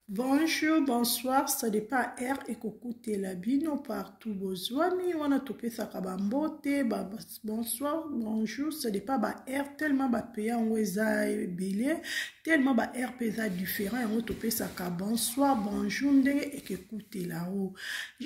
Bonjour, bonsoir, ça dépend heure ekokutela bino partout bozwami wana topesaka bambote ba, bonsoir, bonjour, ça dépend ba heure tellement bapeya yango eza ebele tellement ba heure mpe eza différent yango topesaka bonsoir, bonjour ndenge ekekutela o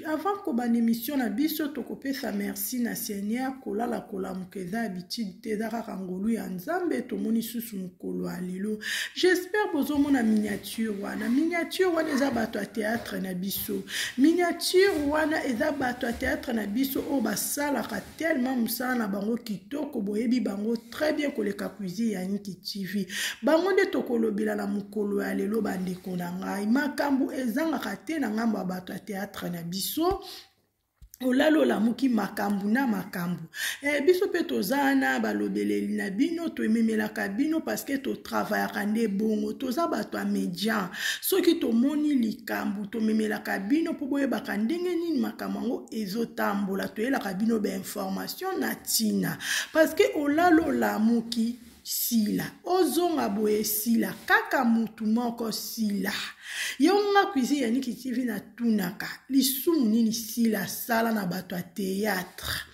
Avant kobanda emission na biso tokopesa merci na Seigneur kolala kolamuka eza habitude te eza kaka ngolu ya Nzambe tomoni susu mokolo ya lelo. J'espère bozomona miniature wana. Miniature wana eza bato ya théâtre na biso. Miniature wana eza bato ya théâtre na biso oyo basalaka tellement mosala na bango kitoko boyebi bango très bien koleka cuisine ya inki tv bango nde tokolobela na mokolo ya lelo bandeko na ngai makambo ezangaka te na ngambo ya bato ya théâtre na biso olali olamuki makambo na makambo eh, biso mpe toza wana balobeleli na bino toememelaka bino parceke totravayaka nde bongo toza bato ya media soki tomoni likambo tomemelaka bino mpo boyebaka ndenge nini makambo yango ezotambola toyelaka bino bainformation na ntina parce que olala olamuki sila ozonga boye sila kaka mutu moko sila yo nga cuisine ya niki tv natunaka lisumu nini sila asala na bato ya théâtre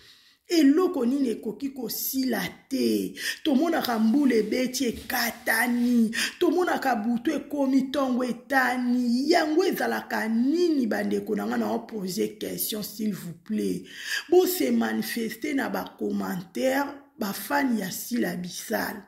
eloko nini ekoki kosila te tomonaka mbula ebeti ekatani tomonaka butu ekomi ntongo etani yango ezalaka nini bandeko na ngai na opose question s'il vous plaît bose manifeste na bacommentaire bafani ya sila bisala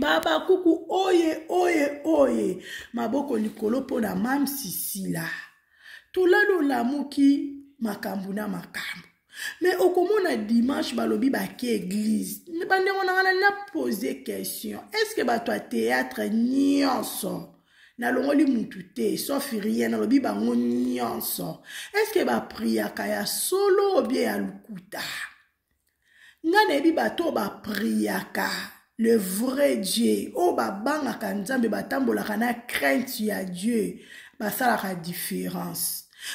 babakuku oye oye oye maboko likolo mpo na mam sisila tulani olamuki makambo na makambo me okomona dimanche balobi bake eglize bandeko na ngana na pose question estce bato ya théâtre nyonso nalongoli mutu te sauf rien nalobi bango nyonso estce bapriaka ya solo obie ya lokuta nga nayebi bato oyo bapriaka le vrai dieu oyo babangaka nzambe batambolaka na crainte ya dieu basalaka différence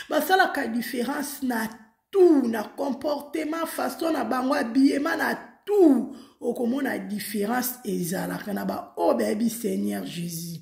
basalaka différence na tout na comportement façon na bango abiyema na tout okomona différence ezalaka na baoyo bayebi seigneur jésus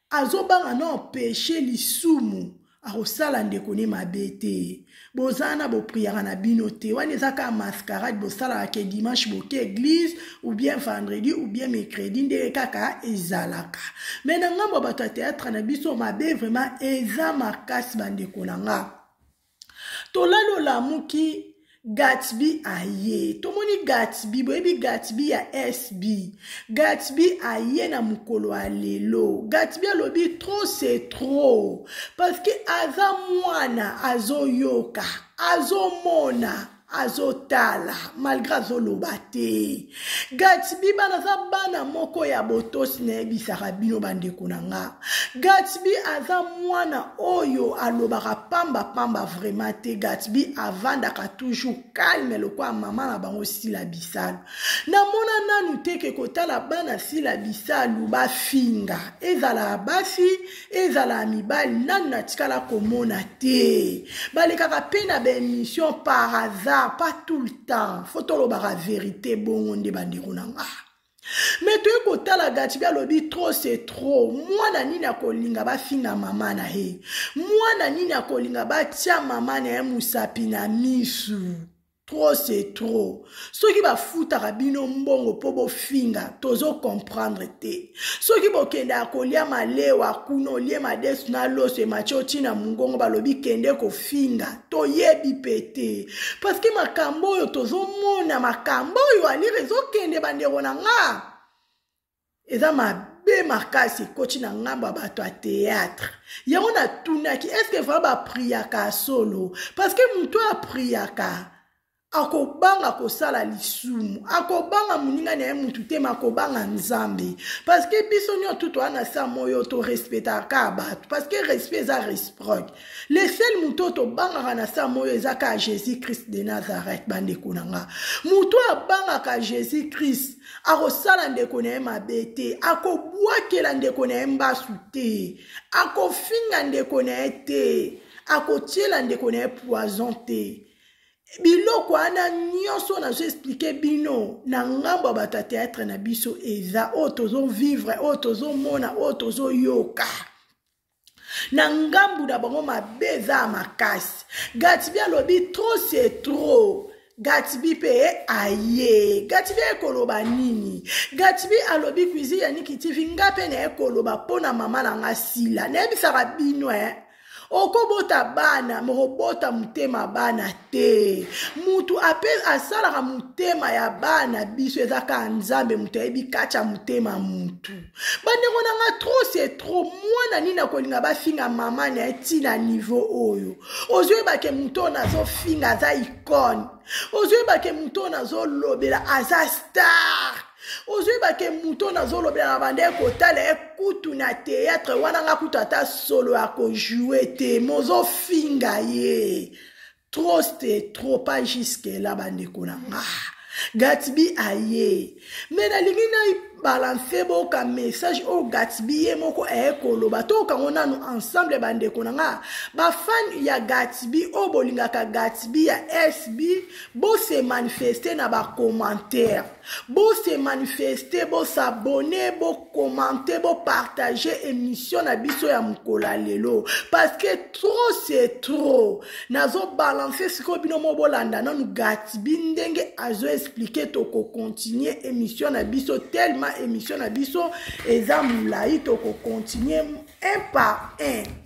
azobanga na empeshe lisumu akosala ndeko ne mabe te boza na bopriaka na bino te wana eza kaka mascarade bosalaka ke dimanche boke eglise ou bien vendredi ou bien mercredi ndenge kaka ezalaka me na ngambo ya bato ya théâtre na biso mabe vraiment eza makasi bandeko na nga tolali olamuki gatsby aye tomoni gatsby boyebi gatsby ya sb gatsby aye na mokolo ya lelo gatsby alobi trop c'est trop parce que aza mwana azoyoka azomona azotala malgre azoloba te gatsby bana aza bana moko ya botosi nayebisaka bino bandeko na nga gatsby aza mwana oyo alobaka pamba pamba vraimen te gatsby avandaka toujours calme lokola mama na bango sila bisalu namona nanu teke kotala bana sila bisalu bafinga ezala basi ezala ya mibali nani natikala komona te balekaka mpe na baémission par hasard pas tout le temps fo tolobaka verité bongo nde bandeko na nga me toye kotala gatibi alobi trop se trop mwana nini akolinga bafinga mama na ye mwana nini akolinga batya mama na ye mosapi na misu trop c'est trop soki bafutaka bino mbongo mpo bofinga tozo comprendre te soki bokendaka kolia malewa kuna olie madesu na loso emaci oti na mongongo balobi kende kofinga toyebi mpe te parceke makambo oyo tozomona makambo oyo alire ezokende bandeko na nga eza mabe makasi ekoti na ngambo ya bato ya théâtre yango natunaki estce vraimen bapriaka ya solo parce que moto oyo apriaka akobanga kosala lisumu akobanga moninga na ye motu te ma akobanga nzambe parce que biso nyonso tu toa na sa moyo torespetaka bato parce que respect eza resproc le sel moto oyo tobangaka na sa moyo eza kaka jésus christ de nazareth bandeko na nga moto oyo abangaka jésus christ akosala ndeko na ye mabe te akobwakela ndeko na ye mbasu te akofinga ndeko na ye te akotyela ndeko na ye poison te biloko wana nyonso nazo explike bino na ngambo ya batateatre na biso eza oyo tozovivre oyo tozomona oyo tozoyoka na ngambu na bango mabe eza ya makasi gatsby alobi trop se trop gatsby mpe aye gatsby aye koloba nini gatsby alobi cuisine ya niki tv nga mpe naye koloba mpo na mama na nga sila nayebisaka bino e eh. okobota bana mokobota motema bana te mutu ape asalaka motema ya bana biso eza kaka nzambe moto ayebi kati ya motema mutu bandeko na nga trop se trop mwana nini akolinga bafinga mama na ye ti na niveau oyo ozoyebake moto oyo nazofinga aza icone ozoyebake moto oyo nazolobela aza star ozoyebake moto oyo nazolobela na banda ekotala ye kutu na théâtre wana nga kutu ata solo ya kojoue te mozofinga ye trop ste trop pas jusque là bandeko na nga gatsby aye me nalingi nai balanse boka message oyo gatsby ye moko aye koloba toyoka ngo nanu ensemble bandeko na nga bafani ya gatsby oyo bolingaka gatsby ya sb bose manifeste na bacommentaire Bo se manifester, bo s'abonner, bo commenter, bo partager émission na biso ya mukola lelo parce que trop c'est trop. Nazo balancer siko bino mo bolanda nanu Gatsby ndenge azo expliquer toko continuer émission na biso tellement émission na biso eza mulayi toko continuer un par un.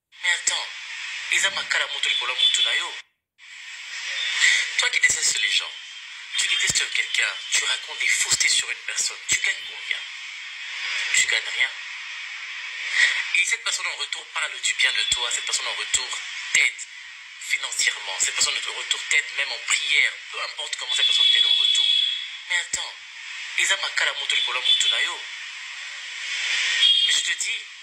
Mais attends eza makala moto likolo ya mutu na yo? Toi qui deteste les gens tu deteste quelqu'un tu raconte des faussetes sur une personne tu gagne combien? Tu gagne rien et cette personne en retour parle du bien de toi cette personne en retour t'aide financièrement cette personne en retour t'aide même en prière peu importe comment cette personne t'aide en retour mais attends eza makala moto likolo ya mutu na yo? Mais je te dis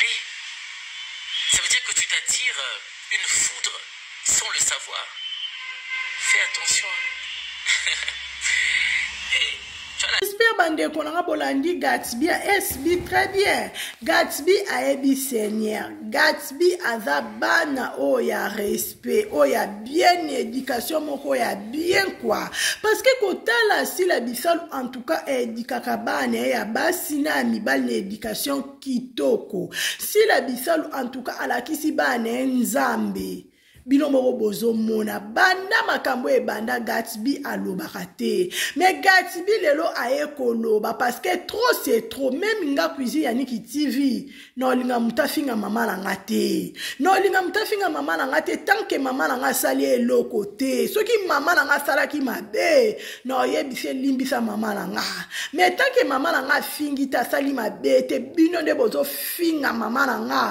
Mais ça veut dire que tu t'attires euh, une foudre sans le savoir. Fais attention. hey, j'espère bandeko nanga bolandi gatsby sb très bien gatsby ayebi seigneur gatsby aza bana oyo ya respect mpe oyo ya bien education moko ya bien kua parceke kotala sila bisalu en tout cas edikaka bana ye ya basi na ya mibali na education kitoko sila bisalu en tout cas alakisi bana ye nzambe bino moko bozomona banda makambo ebanda gatsby alobaka te me gatsby lelo aye koloba parceke trop se trop meme nga cuisine ya niki tv naolinga moto afinga mama na nga te naolinga moto afinga mama na nga te tanke mama na nga asali eloko te soki mama na nga asalaki mabe naoyebisi elimbisa mama na nga me tanke mama na nga afingi te asali mabe te bino nde bozofinga mama na nga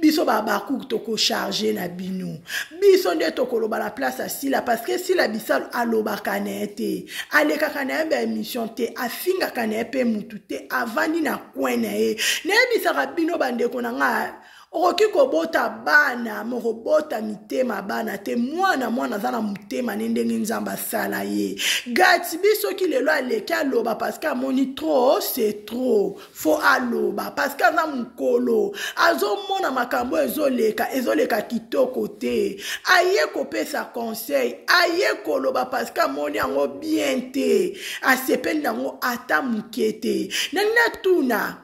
biso babakuku tokocharge na bino biso nde tokoloba na place ya sila parceke sila bisalu alobaka na ye te alekaka na ye baemission te afingaka na ye mpe mutu te avandi na coin na ye nayebisaka bino bandeko na ngai okoki kobota bana mokobota mitema bana te mwana mwana aza na motema ne ndenge nzambe asala ye gatibi soki lelo aleki aloba parceke amoni trop c'est trop fo aloba parceke aza mokolo azomona makambo oyo ezoleka ezoleka kitoko te aye kopesa conseil aye koloba parceke amoni yango bien te asepeli nango ata moke te na natuna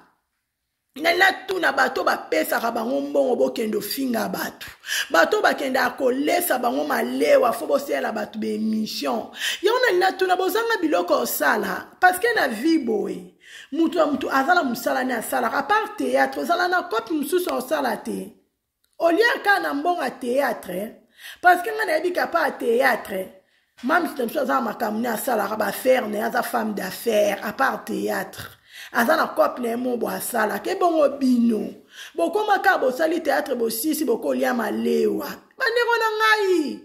na natuna bato bapesaka bango mbongo bokende ofinga bato bato bakendaka kolesa bango malewa fo boseyela bato baemission yango na natuna bozanga biloko osala parceke na vie boye moto ya moto aza na mosala ne asalaka apart théâtre ozala na cope mosusu osala te olie kaka na mbongo ya théâtre parce que ngai nayebi kapa ya théâtre mams na biso aza na makambo ne asalaka baaffaire na ye aza femme d'affaire apart théâtre aza na cope na ye mo bo asalaka ebongo bino bokomaka bosali théâtre bosisi bokolia malewa bandeko na ngai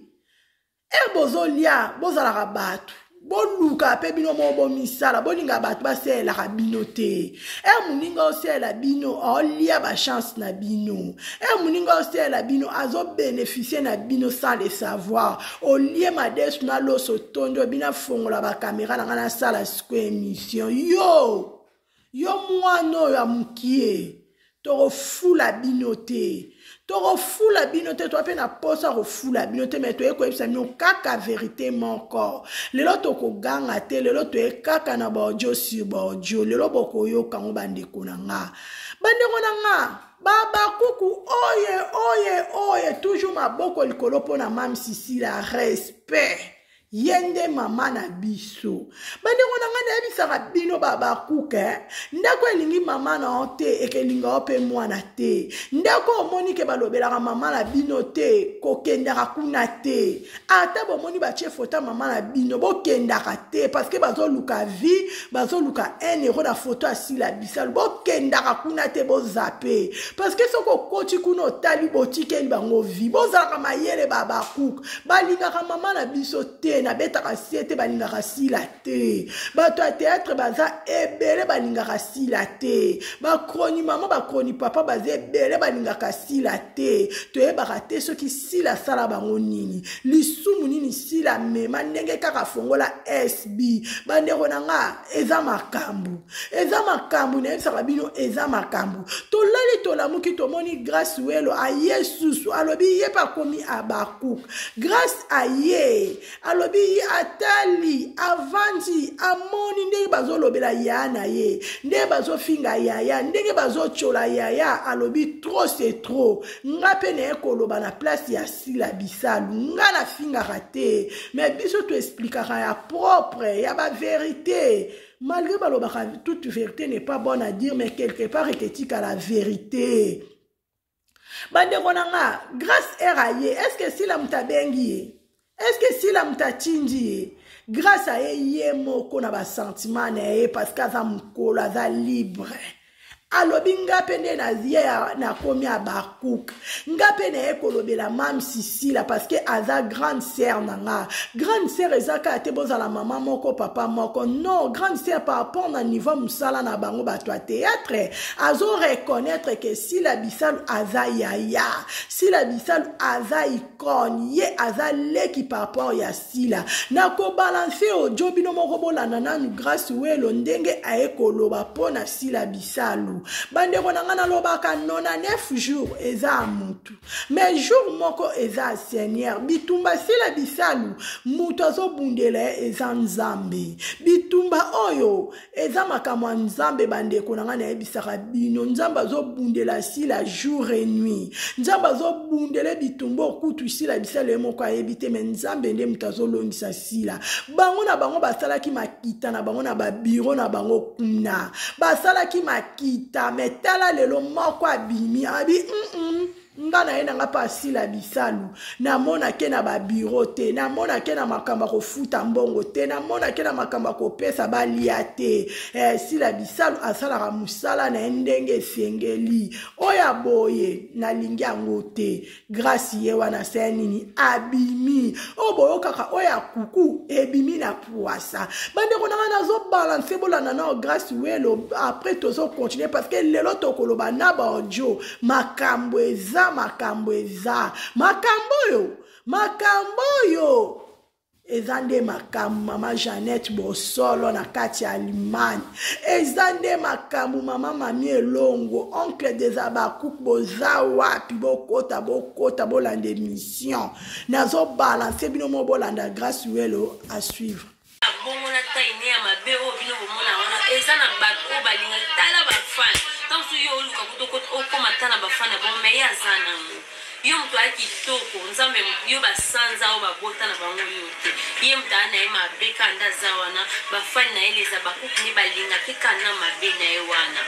ere bozolia bozalaka bato boluka mpe bino moko bomisala bolinga bato basalelaka bino te ere moninga osalela bino aolia bachance na bino ere moninga osalela bino azobenefisie na bino sans le savoir olie madesu na loso tondi obina fongola bakamera na ngai nasala siko emission yo yo mwana oyo ya mokie tokofula bino te tokofula bino te toa mpe na mposa kofula bino te me toye koyebisa bino kaka verité moko lelo tokoganga te lelo toye kaka na baodio sur baodio lelo bokoyoka yango bandeko na nga bandeko na nga babakuku oye oye oye toujours maboko likolo mpo na mame sisila respect ye nde mama na biso bandeko na ngai nayebisaka bino babakuka eh? ndako elingi mama na yo te ekelinga yo mpe mwana te ndako omoni ke balobelaka mama na bino te kokendaka kuna te ata bomoni batie foto ya mama na bino bokendaka te parceke bazoluka vie bazoluka un euro na foto ya sila bisalu bokendaka kuna te bozape parceke soki okoti kuna otali botikeli bango vie bozalaka mayele babakuka balingaka mama na biso te nabetaka sie te balingaka sila te bato ya teatre baza ebele balingaka sila te bakroni mama bakroni papa baza ebele balingaka sila te toyebaka te soki sila asala bango nini lisumu nini sila mema ndenge kaka afongola sb bandeko na nga eza makambo eza makambo nayebisaka bino eza makambo tolali tolamuki tomoni grace welo aye susu alobi ye mpe akomi abakuk grace aye alobi ye atali avandi amoni ndenge bazolobela yaya na ye ndenge bazofinga yaya ndenge bazotyola yaya alobi trop se trop nga mpe naye koloba na place ya sila bisalu nga nafingaka te me biso toesplikaka ya propre ya baverite malgré balobaka toute vérité n'est pas bonne à dire mais quelque part eketika la vérité bandeko na nga grâce ere aye est ce que sila moto abengi ye est ce que sila moto atindi ye grâce aye ye moko na basentiment na ye parce que aza mokolo aza libre alobi nga mpe nde naye nakomi abakuk nga mpe naye kolobela mam sisila parceke aza grande sœur na nga grande sœur eza kaka te bozala mama moko papa moko non grande sœur par rapport na niveau mosala na bango bato ya théâtre azo reconnaître ke sila bisalu aza yaya sila bisalu aza konye aza leki par rapport ya sila na kobalanse ojo bino moko bolanda nanu grace welo ndenge aye koloba mpo na sila bisalu bandeko na ngai nalobaka 99 jour eza mutu mais jour moko eza seigneur bitumba sila bisalu moto azobundela ye eza nzambe bitumba oyo eza makambo ya nzambe bandeko na ngai nayebisaka bino nzambe azobundela sila jour et nuit nzambe azobundela bitumba okutu sila bisala ye moko ayebi te me nzambe nde moto azolongisa sila bango na bango basalaki makita na bango na babiro na bango kuna basalaki makita me tala lelo moko abimi abi mm -mm. nga na ye na nga mpe asila bisalu namonake na babiro te namonake na makambo ya kofuta mbongo te namonake na makambo ya kopesa balia te eh, sila bisalu asalaka mosala na ye ndenge esengeli oyo aboye nalingi yango te grasi ye wana se nini abimi oyo boyokaka oyo ya kuku ebimi na pwasa bandeko na ngai nazobalanse bolanda nao grasi welo apres tozokontinue parce que lelo tokoloba na baodio makambo eza makambo eza makambo oyo makambo oyo eza nde makambo mama jeannette bosolo na kati ya allemagne eza nde makambo mama mami elongo oncle des abakuk boza wapi bokota bokota bolanda émission nazobalanse bino mo bolanda grace welo asuivre bongo na taille ne ya mabe oyo bino bomona wana eza na bato oyo balingaki tala bafane ntango soki yo oluka kutu okoma ata na bafane bongo me ye aza nango yo moto aya kitoko nzambe yo basanza oyo babota na bango yo te ye moto aya na ye mabe kanda aza wana bafane na ye leza bakuku nde balingaki kana mabe na ye wana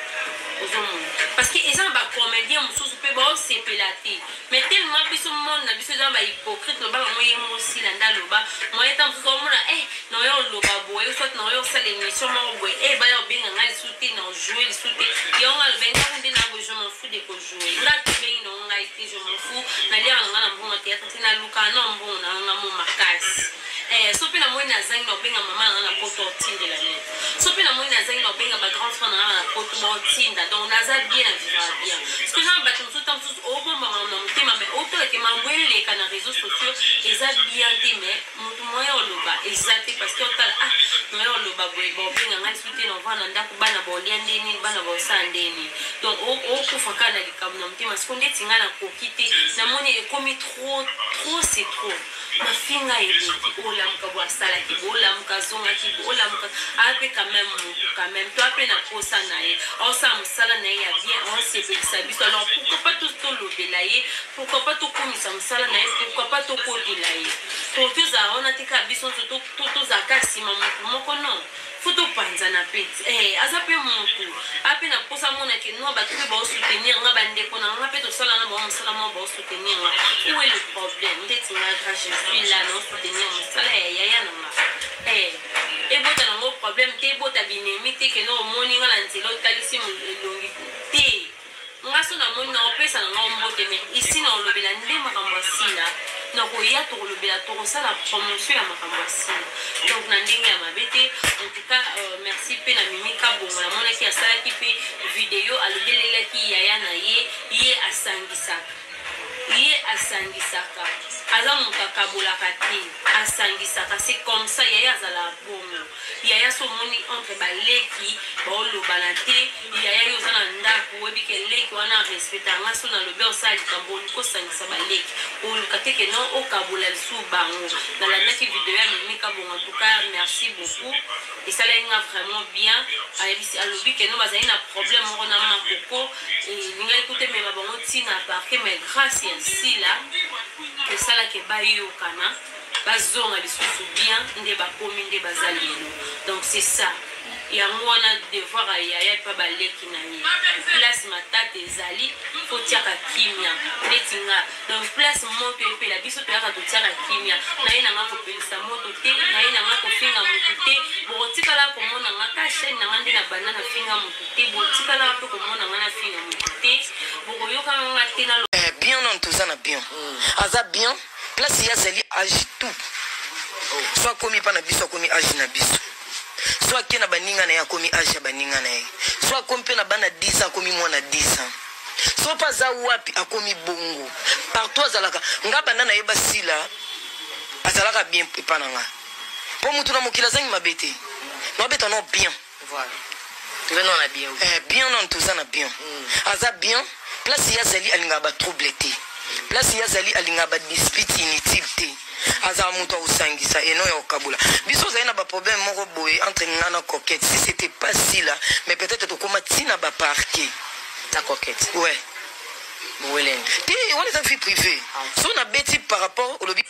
ozomona parce que eza na bacomédien mosusu mpe baosepela te Mais tellement biso monde na biso eza ba hypocrite loba bango ye ngo sila nda loba moyen temps mosusu omona eh na oyo oloba boye ou soit na oyo osala émission moko boye eh baya obenga nga lisusu te na ojoue lisusu te yango nga loba ntango nde na boye je m'en fous de kojoue nga tobengi na ngo ngai te je m'en fous naliaka na nga na mbongo ya théâtre te naluka na mbongo na ngo nga mo makasi Eh soki na moni na zangi na obenga mama na nga na poto otindela nini soki na moni na zangi na obenga ba grand frère na nga na poto baotinda donc naza bien na vivaka bien parce que na bato mosusu ta mosusu obomba makambo na motema mais otala ke makambo eleka na réseau sociaux eza bien te mais moto moya oloba eza te parce que otala ah moya oloba boye baobenga ngai soki te na ovaa na ndako bana baolia nde nini bana baosala nde nini donc okufa kaka na likambo na motema siko ndeti ngai nakoki te namoni ekomi trop trop c'est trop Mafinga eleki o lamuka bo asalaki bo lamuka azongaki bo lamuka aa pe quand même mutu quand même toi pe na posa na ye aosala mosala na ye ya bien aosepelisa biso alors pourquoi pas tous tolobela ye pourquoi pas tokomisa mosala na ye pourquoi pas tokotela ye pour tozala wana te kaka biso nso tozala kaka nsima motu moko non Faut to panzana pe eh aza pe mutu a pe na posa mona ke noa batu pe bao soutenir nga ba ndeko na nga pe to sala na bango musala mwa bao soutenir nga où est le problème ndeti nga ka je suis là na soutenir musala ya yaya na nga eh ebota na ngo problème te ebota binemi te ke no omoni nga na nzela otalisi elongi te Nga soki na moni nako pesa na ngai mbote mais ici nako lobela nde makambo ya sila nako ya toko lobela toko sala promotion ya makambo ya sila donc na ndenge ya mabe te en tout cas euh, merci pe na mimi kabongo na monaki asalaki pe video alobelelaki yaya na ye ye asangisaka ye asangisaka aza moto akabolaka te asangisaka c'est comme ça yaya azalaka bongo Yaya so omoni entre ba leki bao lobana te yaya yo oza na ndaku oyebi ke leki wana a respecta nga so na lobi osala likambo oluki osangisa ba leki oluka te ke non okabola lisusu bango na landaki video ya mimi kabonga tuka merci beaucoup esalaki nga vraiment bien ayebisi alobi ke non bazali na problème moko na makoko elingaki eh, kuta emema bango ntina parke mais grâce ya sila esalaki bayokana Bazonga lisusu bien nde bakomi nde baza lelo donc c'est ça yango wana devoir ya yaya epa baleki na ye place matata ezali totiaka kimia neti nga donc place moto epela biso toyaka totiaka kimia naye nanga kopelisa moto te naye nanga kofinga motu te bokotikala komona nga ka chaine nanga nde na banda na finga motu te botikala mpe komona nga na finga motu te bokoyokanga nga te na eh, bien nano toza na bien mm. aza bien place ye azali age tout so akomi epa na biso akomi age na biso so ake na baninga na ye akomi age ya baninga na ye so akomi mpe na bana 10 akomi mwana 10 ans so mpe aza wapi akomi bongo partout azalaka nga banda na ye basila azalaka bien epa na nga mpo motu na mokili azangi mabe te nabeta no bien Voilà. Toza na bien. Eh bien on toza na bien. Mm. Aza bien place ya zali alinga ba trouble te. Place ya zali alinga ba dispute inutile te. azala moto akosangisa eno ya kokabola biso ozali na baproblème moko boye entre nga na coquette si c'était pas sila mais peut-être tokóma ntina baparke na coquette ouais welenge te wana eza vie privée ah. so nabeti par rapport olobi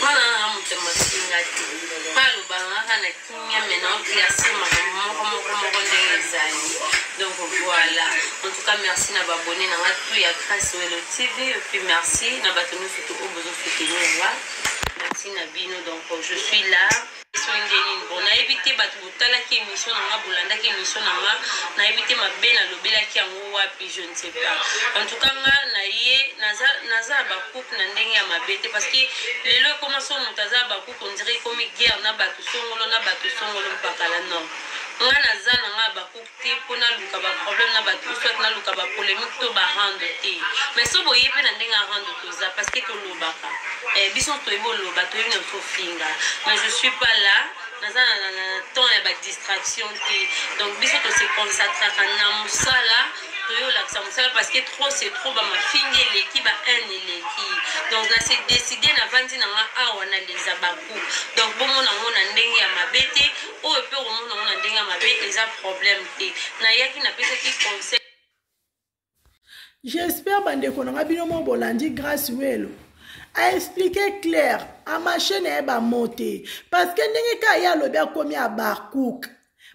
Mwana nanga moto ya mafinga te mpo alobaka ngaka na kimia me na oklase makambo moko moko moko ndenge ezali donc voilà en tout cas merci na babone nanga tout ya grace welo tv epuis merci na bato nyonso to oyo bozosoutenir nga merci na bino donc je suis là soki nde nini bon nayebi te bato botalaki émission na nga bolandaki émission na nga nayebi te mabe nalobelaki yango wapi je ne sais pas en tout cas nga naye naza naza bakuku na ndenge ya mabe te parce que lelo ekoma so moto aza bakuku ondire ekomi guerre na bato songolo na bato songolo mpakala non nga naza na nga bakuku te po naluka ba problème na batu ou soit naluka ba polemique to ba rando te mais so boye pe na ndenge ya rando toza parce que tolobaka eh, biso toyebi oloba toyebi na biso ofinga mais je suis pas là naza na, na temps ya ba distraction te donc biso tose concentraka na mosala toye olakisa mosala parce que trop c'est trop bamafingi eleki ba haine eleki donc na se décide navandi na nga awa na leza beaucoup donc bomona yango na ndenge ya mabe te oyo mpe okomona yango na ndenge ya mabe eza problème te nayaki napesaki conseil j'espère bandeko na nga bino mo bolandi grace welo aexplike claire amashe na ye bamo te parce que ndenge kaka ye alobi akomi abarcouk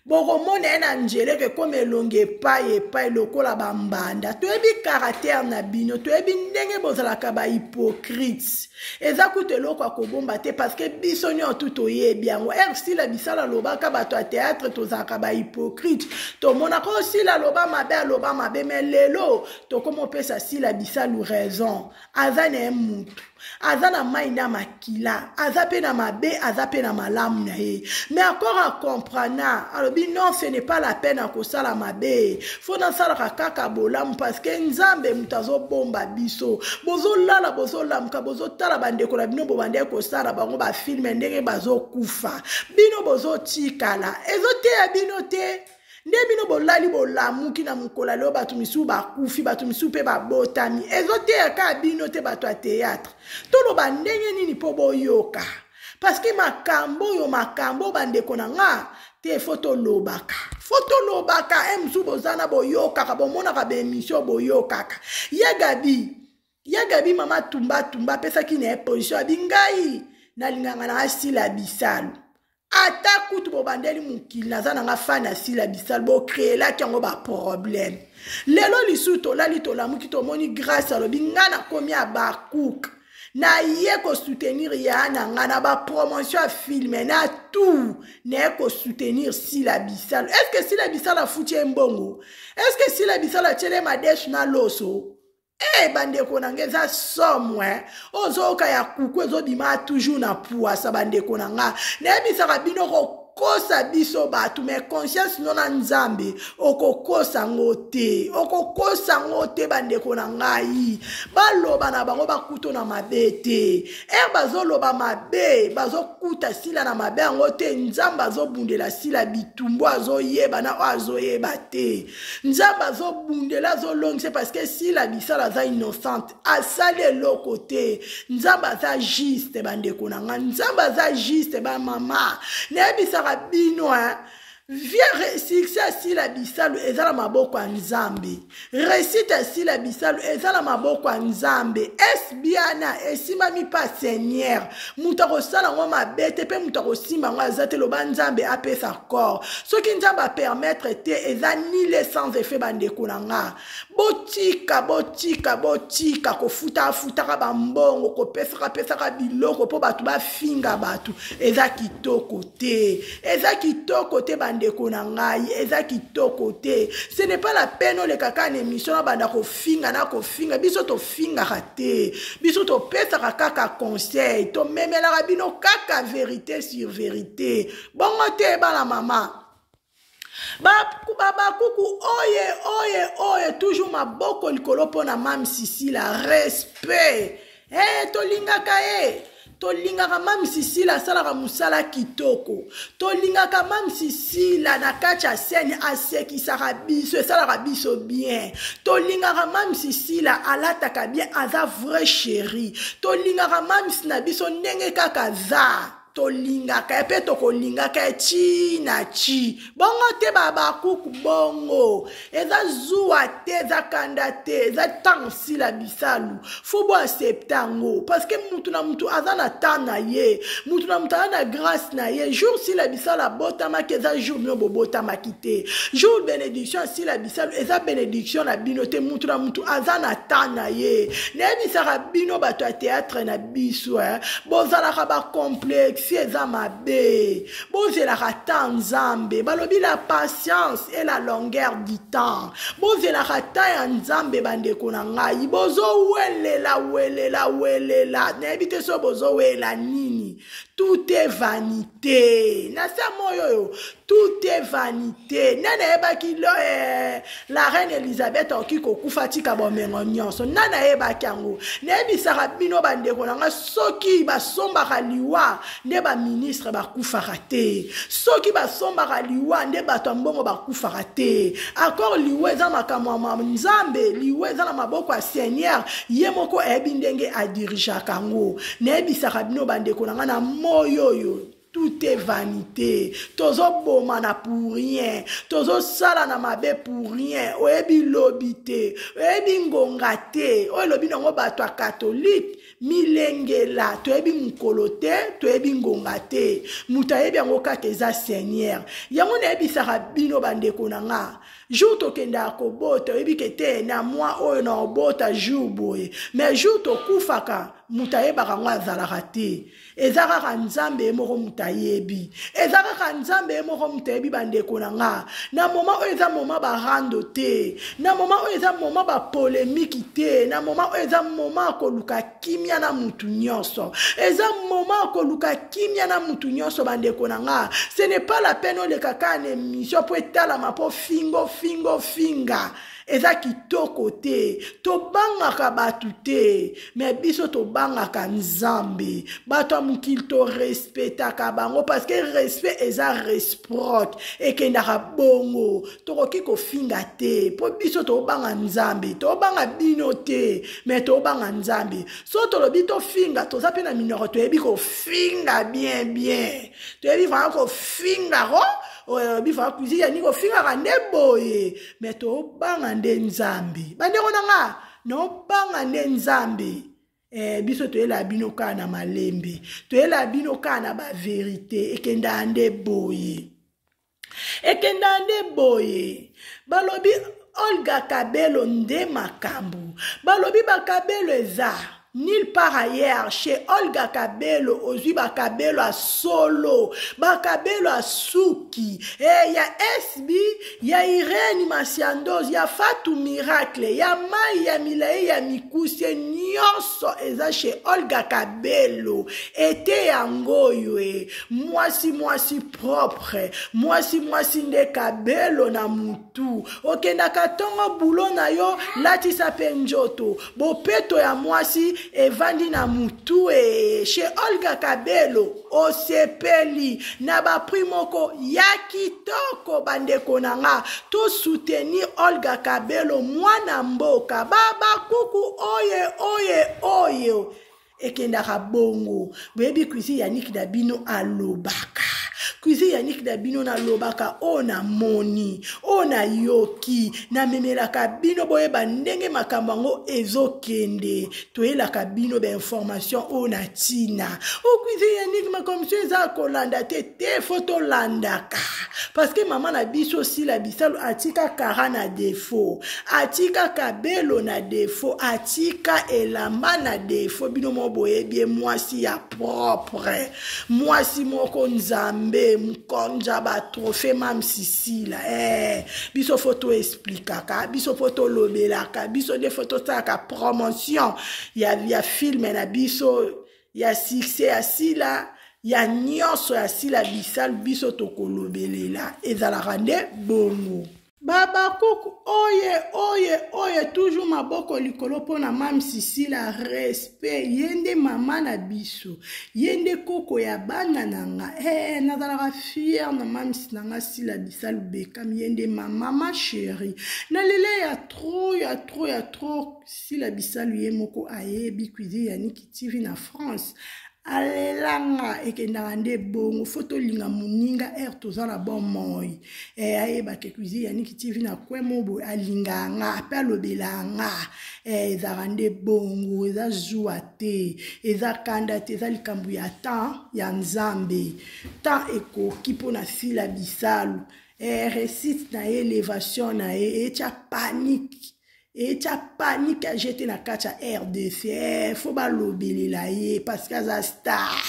bokomona ye na njeleko ekoma elongi epai epai lokola bambanda toyebi karatere na bino toyebi ndenge bozalaka bahypocrite eza kutu eloko ya kobomba te parceke biso nyonso tu toyebi yango ere sila bisala alobaka bato ya teatre tozalaka bahypocrite tomonaka oyo oh, sila aloba mabe aloba mabe me lelo tokomopesa sila bisalu raison aza na ye mutu aza na mai na makila aza mpe na mabe aza mpe na malamu na ye mais akor acomprana alobi non ce n'est pas la peine ya kosala mabe fo nasalaka kaka bolamu parce que nzambe moto azobomba biso bozolala bozolamuka bozotala bandeko na bino bobandaki kosala bango bafilme ndenge bazokufa bino bozotikala ezoteya bino te nde bino bolali bolamuki na mokolo ya lelo bato misusu bakufi bato misusu mpe babotami ezoteya kaka bino te bato ya teyatre toloba ndenge nini mpo boyoka parceke makambo oyo makambo bandeko na nga te fo tolobaka fo tolobaka e eh, mosusu boza na boyokaka bomonaka baemisio boyokaka ya gabi ya gabi mama tumbatumba apesaki na ye position abi ngai nalingaka na asila bisalu ata kutu bobandeli mokili naza na nga fani asila bisal bokreelaki yango baproblème lelo lisusu tolali tolamuki tomoni grâce alobi nga nakomi abakuk naye kosoutenir ya na nga na bapromotion ya filme na tout naye kosoutenir sila bisal estce sila bisal afuti ye mbongo estce sila bisal atyele madeshe na loso Hey, eh, bandeko na nga eza somo eh? ozoyoka ya kuku ezobima toujours na puasa bandeko na nga nayebisaka bino kokosa biso bato me conscience no na nzambe okokosa ngo te okokosa ngo te bandeko na ngai baloba na bango bakuto na mabe te e bazoloba mabe bazokuta sila na mabe yango te nzambe azobundela sila bitumbu azoyeba na oyo azoyeba te nzambe azobundela azolongisa parceke sila bisala aza innocente asali eloko te nzambe aza juste bandeko na ngai nzambe aza juste bamama nayebisaka bino hein? vie succès asila bisalu eza na maboko ya nzambe réussite asila bisalu eza na maboko ya nzambe esbiana esimbami mpa seigneur moto akosala yango mabe te mpe moto akosimba yango aza te loba nzambe apesa corps soki nzambe apermettre te eza nile sans effet bandeko na nga botika botika botika kofuta afutaka bambongo kopesaka pesaka biloko mpo bato bafinga bato eza kitoko te eza kitoko te bandeko na ngai eza kitoko te ce n'est pas la peine olekaka na émission na banda kofinga na kofinga biso tofingaka te biso topesaka kaka conseil tomemelaka bino kaka verité sur verité bongo te bana mama babakuku oye oye oye toujours maboko likolo mpo na mame sisila respect e tolingaka ye tolingaka mame sisila asalaka mosala kitoko tolingaka mame sisila na kati ya sene asekisaka biso esalaka biso bien tolingaka mame sisila alataka bien aza vrai chéri tolingaka mames na biso ndenge kaka za tolingaka ye mpe tokolingaka ye ti na ti bongo te babakuku bongo eza zuwa te eza kanda te eza ntango sila bisalu fo bo accepte yango parceke motu na motu aza na temps na ye motu na motu aza na grâce na ye jour sila bisalu abotamaki eza jour bino bobotamaki te jour bénédiction ya sila bisalu eza bénédiction na bino te motu na motu aza na temps na ye nayebisaka bino bato ya théâtre na biso eh? bozalaka bacomplexe eza mabe bozelaka ta nzambe balobi la patience et la longueur du temps bozelaka ta ya nzambe bandeko na ngai bozowelela welela welela nayebi te so bozowela nini tout est vanité na se moyo oyo tout est vanité nani ayebaki lo eh, la reine elizabeth akoki kokufa tika bomengo nyonso nani ayebaki yango nayebisaka bino bandeko na ngai soki basombaka liwa nde baministre bakufaka te soki basombaka liwa nde bato ya mbongo bakufaka te akor liwa eza makambo ya nzambe liwa eza na maboko ya seigneur ye moko ayebi ndenge adirigeaka yango nayebisaka bino bandeko na ngai na moi oyo tout est vanité tozobomana pour rien tozosalana mabe pour rien oyebi lobi te oyebi ngonga te oyo elobi nango bato ya katolike milengela toyebi mokolo te toyebi ngonga te moto ayebi yango kaka eza seigneur yango nayebisaka bino bandeko na nga jour tokendaka kobota oyebi ke te na mwa oyo na obota jour boye mais jour tokufaka moto ayebaka yango azalaka te eza kaka nzambe ye moko moto ayebi eza kaka nzambe ye moko moto ayebi bandeko na nga na moma oyo eza moma barando te na moma oyo eza moma bapolemiki te na moma oyo eza moma ya koluka kimia na motu nyonso eza moma ya koluka kimia na motu nyonso bandeko na nga ce n'est pas la peine oleka kaka na émission mpo etalama mpo fingo fingo finga eza kitoko te tobangaka bato te me biso tobangaka nzambe bato ya mokili torespetaka bango parceke respect eza resproc ekendaka bongo tokoki kofinga te mpo biso tobanga nzambe tobanga bino te me tobanga nzambe so tolobi tofinga toza mpe na minoko toyebi kofinga bien bien toyebi vraimen kofinga ko oyo bifaka cuisine ya nini kofingaka nde boye me tobanga nde nzambe bandeko na nga nobanga nde nzambe eh, biso toyelaa bino kaka na malembe toyelaa bino kaka na baverite ekendaa nde boye ekendaa nde boye balobi olga kabelo nde makambo balobi bakabelo eza Nil part ailleurs chez Olga Kabelo ozwi ba Kabelo a solo ba Kabelo a suki eh, ya SB ya Irene Masiandos ya Fatou Miracle ya Mai ya Milaye ya Mikuse nyonso eza chez Olga Kabelo ete yango oyo e mwasi mwasi propre mwasi mwasi nde Kabelo na moto tout okendaka ntongo bulo na yo latisa mpe njoto bopeto ya mwasi evandi na motu e chez olga kabelo osepeli na baprix moko ya kitoko bandeko na nga tosoutenir olga kabelo mwana mboka babakuku oye oye oyo ekendaka bongo boyebi cuisine ya niki na bino alobaka cuisine ya niki na bino nalobaka oyo namoni oyo nayoki namemelaka bino boyeba ndenge makambo yango ezokende toyelaka bino bainformation oyo na ntina o cuisine ya niki makomisio eza kolanda te te fo tolandaka parce que mama na biso sila bisalu atika kara na defaut atika kabelo na defo atika elamba na defo bino moko boyebi ye mwasi ya propre mwasi moko nzambe mkonja batrofe mamsisila eh, biso fo toesplikaka biso fo tolobelaka biso nde fo tosalaka promotion ya, ya filme na biso ya succès ya sila ya nyonso ya sila bisalu biso tokolobelela ezalaka nde bongo babakuku oye oye oye toujours maboko likolo mpo na mame sisila respect ye nde mama na biso ye nde koko ya bana na nga ee eh, nazalaka fiere na mamisi na nga sila bisa lubekami ye nde mama ma sheri na lele ya tro ya tro ya tro sila bisalu ye moko ayebi cuisine ya niki tv na france alelanga ekendaka nde bongo fo tolinga moninga ere toza na bomoi e eh, ayebake cuisine ya niki tv na kwe mo boye alingaka nga mpe alobelaka nga e eh, ezalaka nde bongo eza zuwa te eza kanda te eza likambo ya temps ya nzambe temps ekoki mpo na sila bisalu e eh, resite na ye elevation na ye etya panike etya panike ya jete na kati ya rdc eh, fo balobelela ye parceke aza star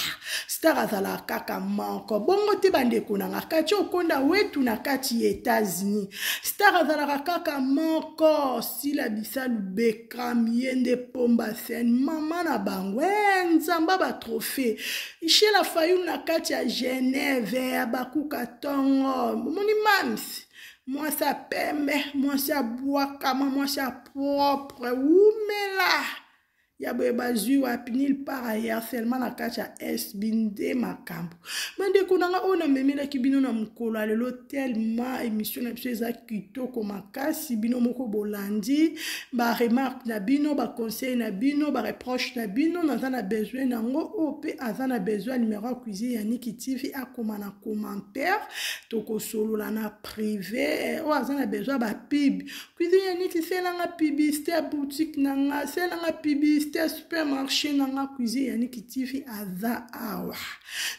star azalaka kaka moko bongo te bandeko na nga kati okonda wetu na kati ya etats-unis star azalaka kaka moko sila bisa lubekam ye nde pomba sen mama na bango e nzamba batrophée shela fayulu na kati ya genève ya bakuka tongo omoni mamsi mwasi ya pembe mwasi ya bwakama mwasi ya propre wumela ya boye bazwi wapi nil par ailleurs seulement na kati ya sb nde makambo bandeko na nga oyo namemelaki bino na mokolo ya lelo tellement émission na biso eza kitoko makasi bino moko bolandi baremarque na bino baconseil na bino bareproche na bino naza na besoin na yango oyo mpe aza na besoin ya numero ya cuisine ya niki tv akoma na commentaire tokosolola na prive oyo oh, aza na besoin ba pub cuisine ya neti selanga publicité ya boutique na nga selanga publicité ya supermarché na nga cuisine ya niki tv aza awa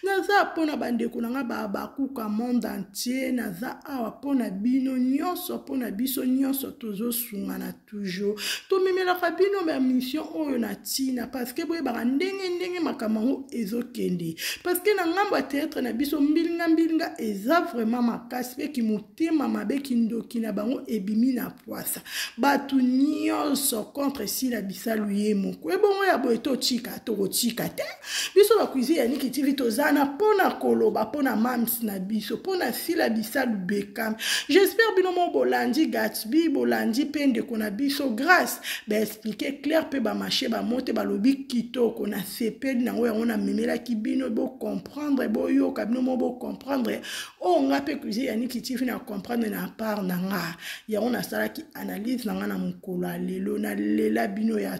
naza mpo na bandeko na nga babakuka monde entier naza awa mpo na bino nyonso mpo na biso nyonso tozosungana toujours tomemelaka bino bamission oyo na ntina parceke boyebaka ndenge ndenge makambo yango ezokende parceke na ngambo ya teatre na biso mbilinga mbilinga eza vraiment makasi mpe kimotema mabe kindoki na bango ebimi na pwasa bato nyonso contre sila bisalu ye moko ebongo ya boye totika tokotika te biso na cuisine ya niki tv toza na mpo na koloba mpo na mams na biso mpo na sila bisalu bekam j'espère bino moko bolandi gatsby bolandi mpe ndeko na biso grace baexplike claire mpe bamashe bamo te balobi kitoko na sepeli nango yango namemelaki bino bocomprendre boyoka bino moko bocomprendre oyo oh, nga mpe cuisine ya niki tv na comprendre na part na nga yango nasalaki analyse na nga na mokolo ya lelo nalela bino ya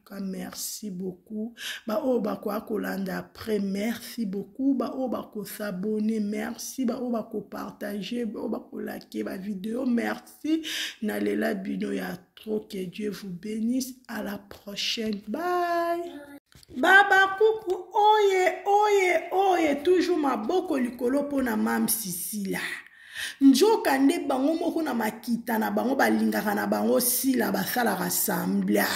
ka merci beaucoup baoyo bakoya kolanda après merci beaucoup baoyo bakosabone merci baoyo bakopartage baoyo bakolake bavideo merci nalela bino ya trop que dieu vous bénisse à la prochaine bye baba kuku oye oye oye toujours maboko likolo mpo na mam sisila njoka nde bango moko na makita na bango balingaka na bango sila basalaka sambla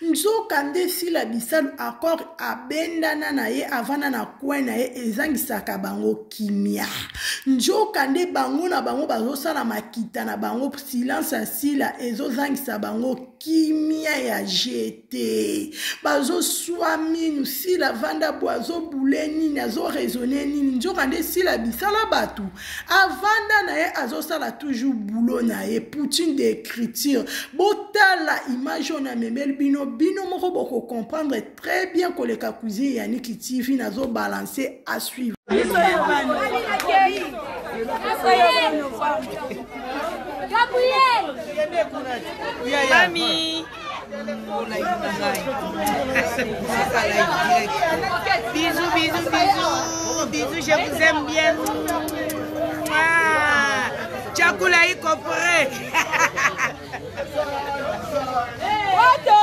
nzoka nde sila bisalu accord abendana na ye avanda na coin na ye ezangisaka bango kimia nzoka nde bango na bango bazosala makita na bango silence ya sila ezozangisa bango kimia ya jete te bazoswa minu sila vanda bo azobule nini azoraisonne nini nzoka nde sila bisala bato avanda na ye azosala toujours bulo na ye poutine de écriture botala image oyo namemeli bino bino moko bokocomprendre très bien koleka cuisine ya niki tv nazobalanse à suivre Gabriel! Mami! Bisous, bisous, bisous. Bisous, je vous aime bien. Ah, chakula iko prêt. Oto.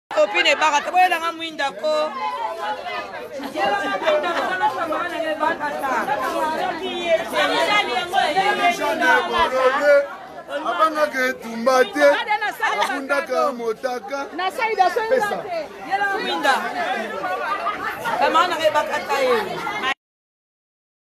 Copine ebaka te boyela nga mwinda ko. abangaka etumba te abundaka motaka pesa kamana ebakata ye